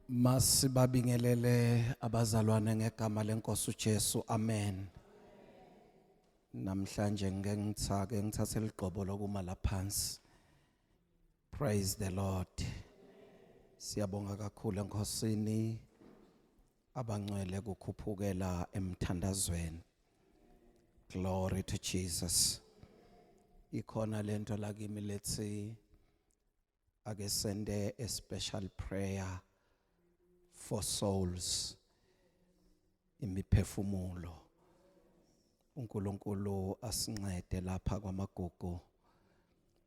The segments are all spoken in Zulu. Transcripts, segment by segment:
Masibabingelele abazalwane ngegama lenkosi uJesu. Amen. Namhlanje ngeke ngithake ngithathe ligqobo lokuma laphansi. Praise the Lord. Siyabonga kakhulu enkosini abangcwele kukhuphukela emthandazweni. Glory to Jesus. Ikhona lento la kimi lethi ake sende a special prayer for souls imiphefumulo. uNkulunkulu asincede lapha kwamagugu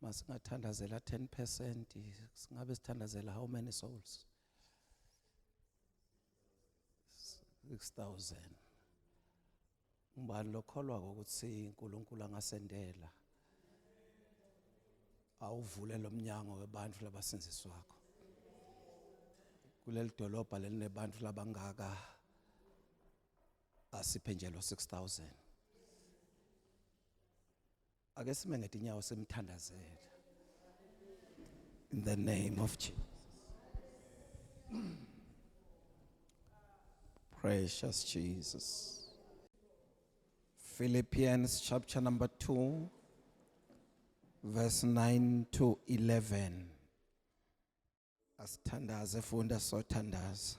masingathandazela 10% singabe sithandazela how many souls 6000 ngubani lokholwa ukuthi uNkulunkulu angasendela awuvule lomnyango webantu labasinzisi wakho kuleli dolobha lelinebantu labangaka asiphe nje lo 6000 Ake sime ngetinyawo simthandazele. In the name of Jesus. Precious Jesus. Philippians chapter number 2 verse 9 to 11. Asithandaze funda sothandaza.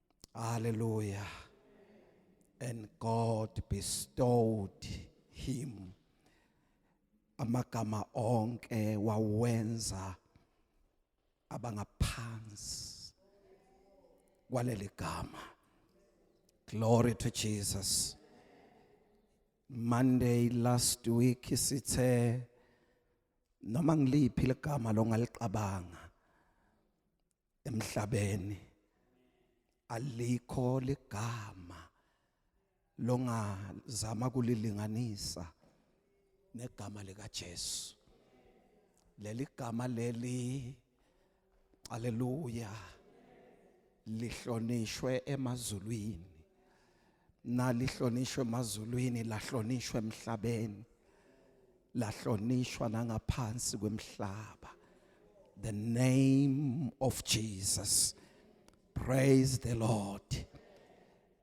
Hallelujah. And God bestowed him amagama onke wawenza abangaphansi kwaleli gama. Glory to Jesus. Monday last week sithe noma ngiliphi legama longaliqabanga emhlabeni alikho ligama longazama kulilinganisa negama lika Jesu leli gama leli haleluya lihlonishwe emazulwini nalihlonishwe emazulwini lahlonishwe emhlabeni lahlonishwa nangaphansi kwemhlaba the name of Jesus praise the lord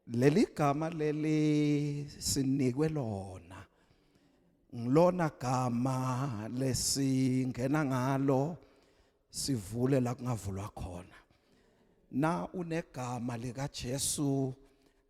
leli gama leli sinikwe lona ngilona gama lesingena ngalo sivule la kungavulwa khona na unegama lika Jesu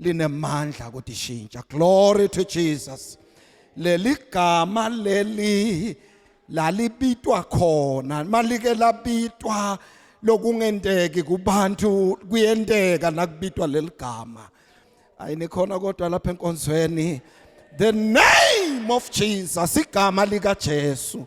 linemandla ukuthi shintsha glory to Jesus leli gama leli lalibitwa khona malike labitwa lokungenteki kubantu kuyenteka nakubitwa leli gama ayinikhona kodwa lapha enkonzweni the name of Jesus igama lika Jesu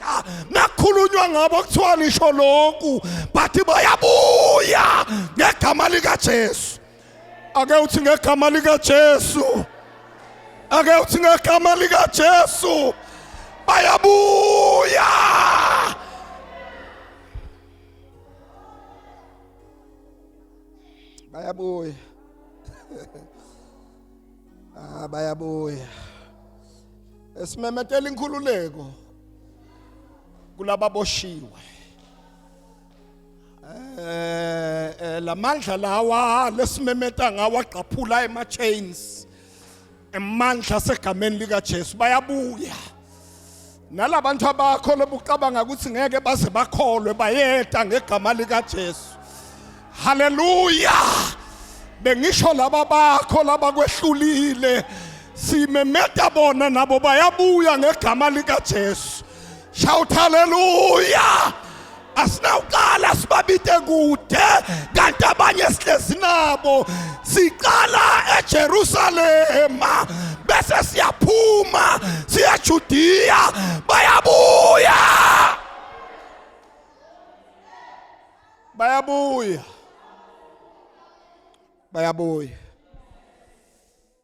Ah, nakhulunywa ngabo kuthiwa nisho lokhu but bayabuya ngegama likaJesu ake uthi ngegama likaJesu ake uthi ngegama likaJesu bayabuya bayabuya ah bayabuya esimemetela inkhululeko kulaba boshiwe eh, eh lamandla lawa lesimemeta ngawa gqaphula ema chains emandla segameni lika Jesu bayabuya nalabantu abakho lobucabanga ukuthi ngeke baze bakholwe bayeta ngegama likaJesu haleluya bengisho laba bakho laba kwehlulile simemeta bona nabo bayabuya ngegama likaJesu shout haleluya asinawuqala sibabite kude kanti abanye sihlezi nabo siqala eJerusalema bese siyaphuma siya Judiya bayabuya bayabuya bayabuya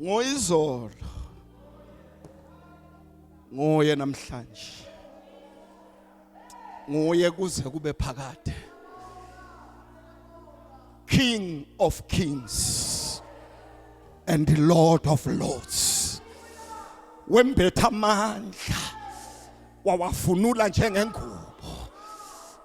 ngoyizolo nguye namhlanje nguye kuze kube phakade king of kings and the lord of lords wembetha amandla wawafunula njengengubo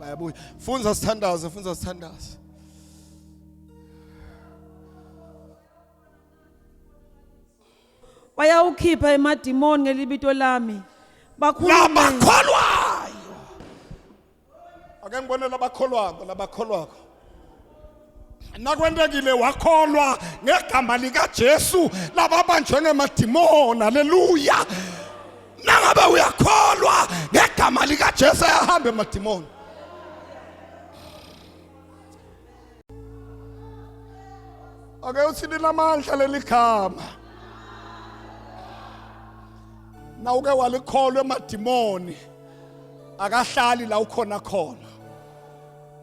bayabuya funza sithandaze funza sithandaze bayawukhipha emadimoni ngelibito lami bakhulume labakholwayo ake ngibone labakholwako labakholwako nakwentekile wakholwa ngegama likaJesu lababanjwe ngemadimoni haleluya nangabe uyakholwa ngegama likaJesu ayahambe emadimoni ake uthi linamandla leli gama na uke walikholwa emadimoni akahlali la ukhona khona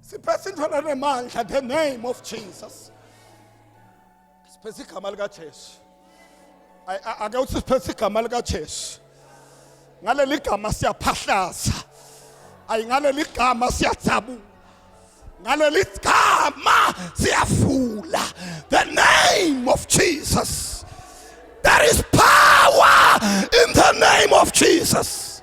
siphethe into lanemandla the name of jesus siphethe igama likajesu ake uthi siphethe igama likajesu ngaleli gama siyaphahlaza ayi ngaleli gama siyajabula ngaleli gama siyafula the name of jesus there is power in the name of jesus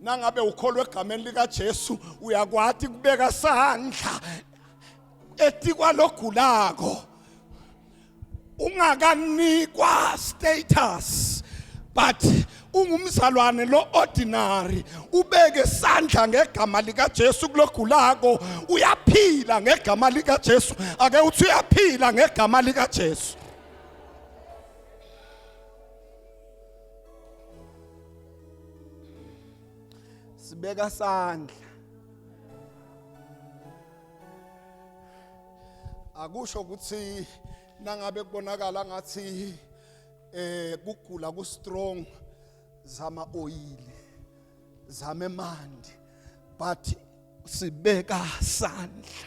nangabe ukholwa egameni likaJesu uyakwati kubeka sandla etikwalogulako ungakanikwa status but ungumzalwane lo ordinary ubeke isandla ngegama lika Jesu kulogulako uyaphila ngegama lika Jesu ake uthi uyaphila ngegama lika Jesu sibeka sandla akusho ukuthi nangabe kubonakala ngathi eh kugula ku strong zama oil zame mandi but sibeka sandla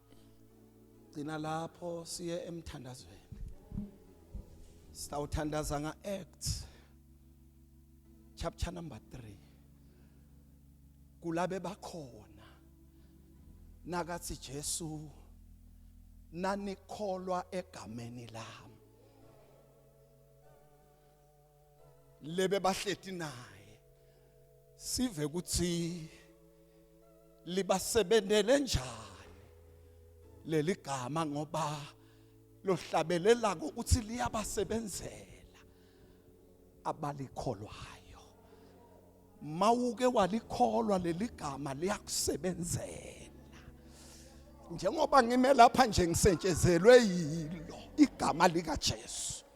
gcina lapho siye emthandazweni sitawuthandaza nga acts chapter number 3 kulabe bakhona nakathi Jesu nanikholwa egameni lami lebe bahleti naye sive ukuthi libasebenzele njani leli gama ngoba lohlabelela ukuthi liyabasebenzela abalikholwayo mawuke walikholwa leli gama liyakusebenzela njengoba ngime lapha nje ngisentshezelwe yilo igama likaJesu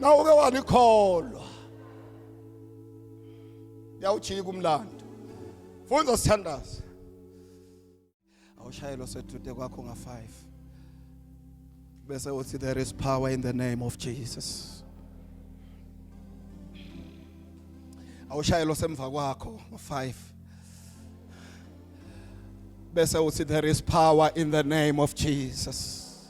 na uke walikholwa yawujika umlando funda sithandaze awushayelwa sethude kwakho nga 5 bese uthi there is power in the name of Jesus awushayelwa semva kwakho nga 5 bese uthi there is power in the name of Jesus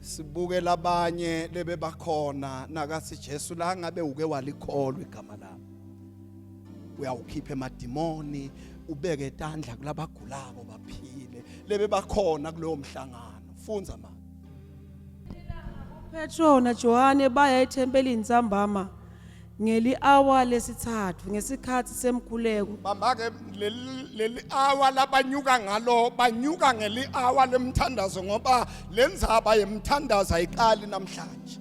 sibuke labanye lebebakhona nakathi Jesu la ngabe uke walikholwa igama lami uyawukhipha emadimoni ubeke tandla kulabagulako baphile lebebakhona kulowo mhlangano funza ma Petro naJohane baya ethempelini ntambama Ngeli-awa lesithathu ngesikhathi semkhuleko bambake leli leli hour labanyuka ngalo banyuka ngeli hour lemthandazo ngoba lenzaba yemthandazo ayiqali namhlanje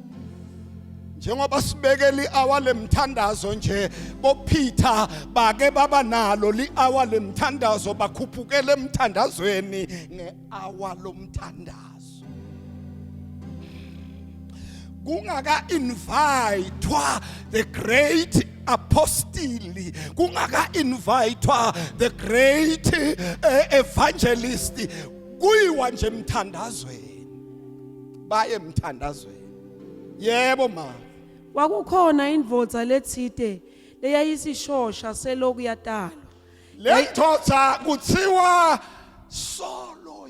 njengoba sibekela i-hour lemthandazo nje bophitha bake baba nalo li-hour lemthandazo bakhuphukele emthandazweni nge-hour lomthandazo kungaka invitwa the great apostili kungaka invitwa the great eh, evangelist kuyiwa nje emthandazweni baye emthandazweni yebo ma kwakukhona indvodza letsite leyayisishosha seloku yatalwa le ndoda kuthiwa solo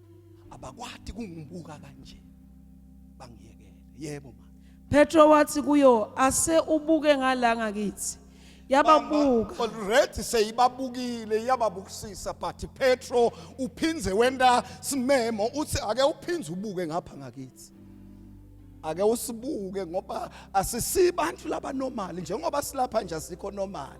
abakwati kungibuka kanje bangiyekele yebo ma Petro wathi kuyo ase ubuke ngalanga kithi yababuka already seyibabukile yababukisisa but Petro uphindze wenda simemo uthi ake uphindze ubuke ngapha ngakithi ake usibuke ngoba asisibantu laba normal njengoba silapha nje asikho normal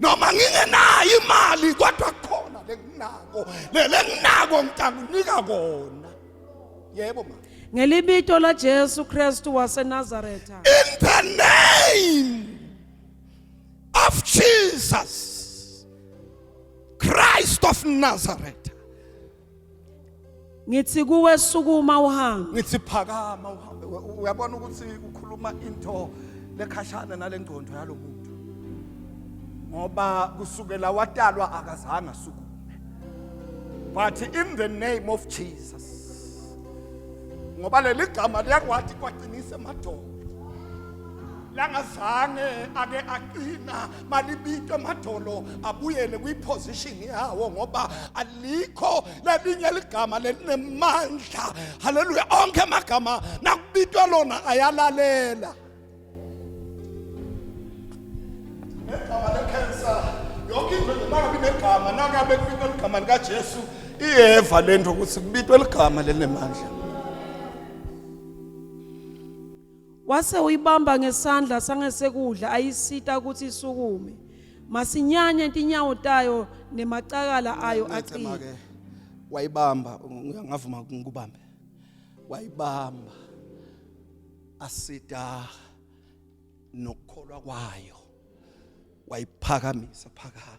noma ngingenayo imali kodwa khona lenginako lenginako ngitakunika kona yebo mama ngelibito la Jesu Kristu waseNazaretha in the name of Jesus Christ of Nazareth ngithi kuwe sukuma uhambe ngithi phakama uhambe We- u- uyabona ukuthi ukhuluma into lekhashana nalengcondo yalomuntu ngoba kusukela watalwa akazange asukume but in the name of Jesus ngoba leli gama liyakwathi kwaqinisa emadolo langazange ake aqina malibitwe emadolo abuyele kwiposition yawo ngoba alikho lelinye ligama lelinemandla haleluya onke amagama nakubitwa lona ayalalela negama lekhensa yonke into nje nangabe inegama nangabe kubitwa ligama likajesu iyeva le nto ukuthi kubitwa ligama lelinemandla wase uyibamba ngesandla sangesekudla ayisita ukuthi isukume masinyane intinyawo tayo nemacakala ayo aqina wayibamba ngavuma ngikubambe wayibamba asita nokukholwa kwayo wayiphakamisa phakama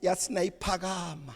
yathi nayiphakama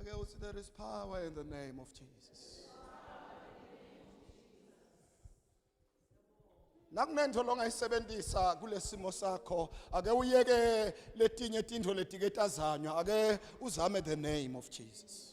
Ake uthi there is power in the name of Jesus. nakunento longayisebenzisa kulesimo sakho ake uyeke letinye tindho letike tazanywa ake uzame the name of Jesus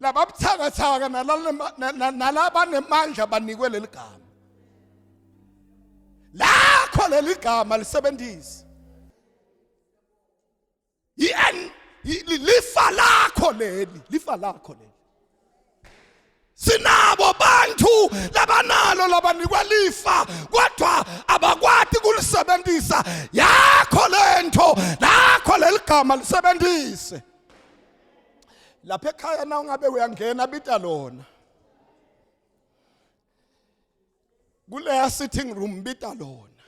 lababuthakathaka nalabanemandla banikwe leli gama lakho leli gama lisebenzise yen lifa lakho leli lifa lakho leli sinabo abantu labanalo labanikwa lifa kodwa abakwati kulisebenzisa yakho lento lakho leligama lisebenzise lapha ekhaya na ungabe uyangena bita lona kuleya sitting room bita lona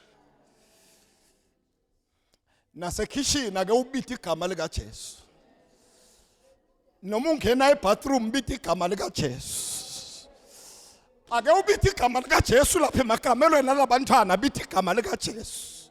nasekhishini ake ubite igama likaJesu noma ungena ebathroom bite igama likaJesu ake ubite igama likaJesu lapha emakamelweni alabantwana bite igama likaJesu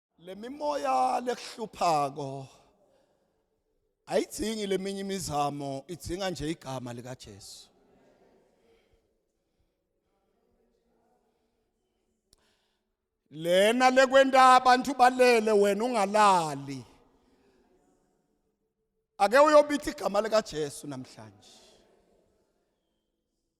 lemimoya lekuhluphako ayidzingi leminye imizamo idzinga nje igama likaJesu lena lekwenta abantu balele wena ungalali ake uyobitha igama likaJesu namhlanje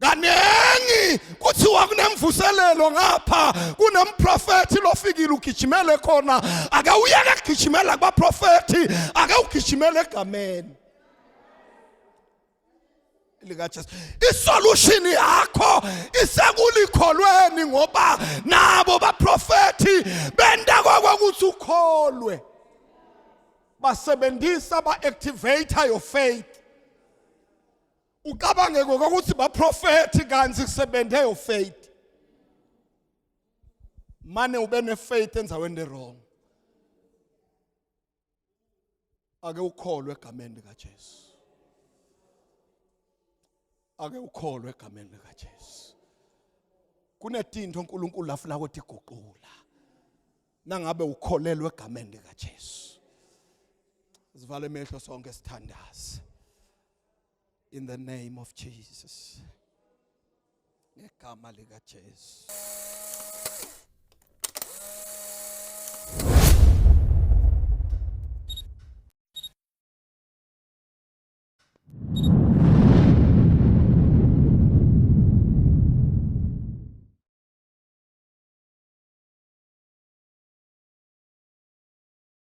kaningi kuthiwa kunemvuselelo ngapha kunemprofethi lofikile ugijimele khona ake uyeke kugijimela kubaprofethi ake ugijimele egameni likaJesu isolution yakho isekulikholweni ngoba nabo baprofethi benta kokuthi ukholwe basebenzisa ba activate your faith ucabange ngokuthi baprofethi kanti kusebenze your faith mane ube nefaith enzaweni ewrong ake ukholwe egameni likaJesu ake ukholwe egameni likaJesu kunetinto uNkulunkulu afuna ukuthi iguqula nangabe ukholelwe egameni likaJesu sivale emehlo sonke sithandaze in the name of Jesus. Ngegama lika Jesu.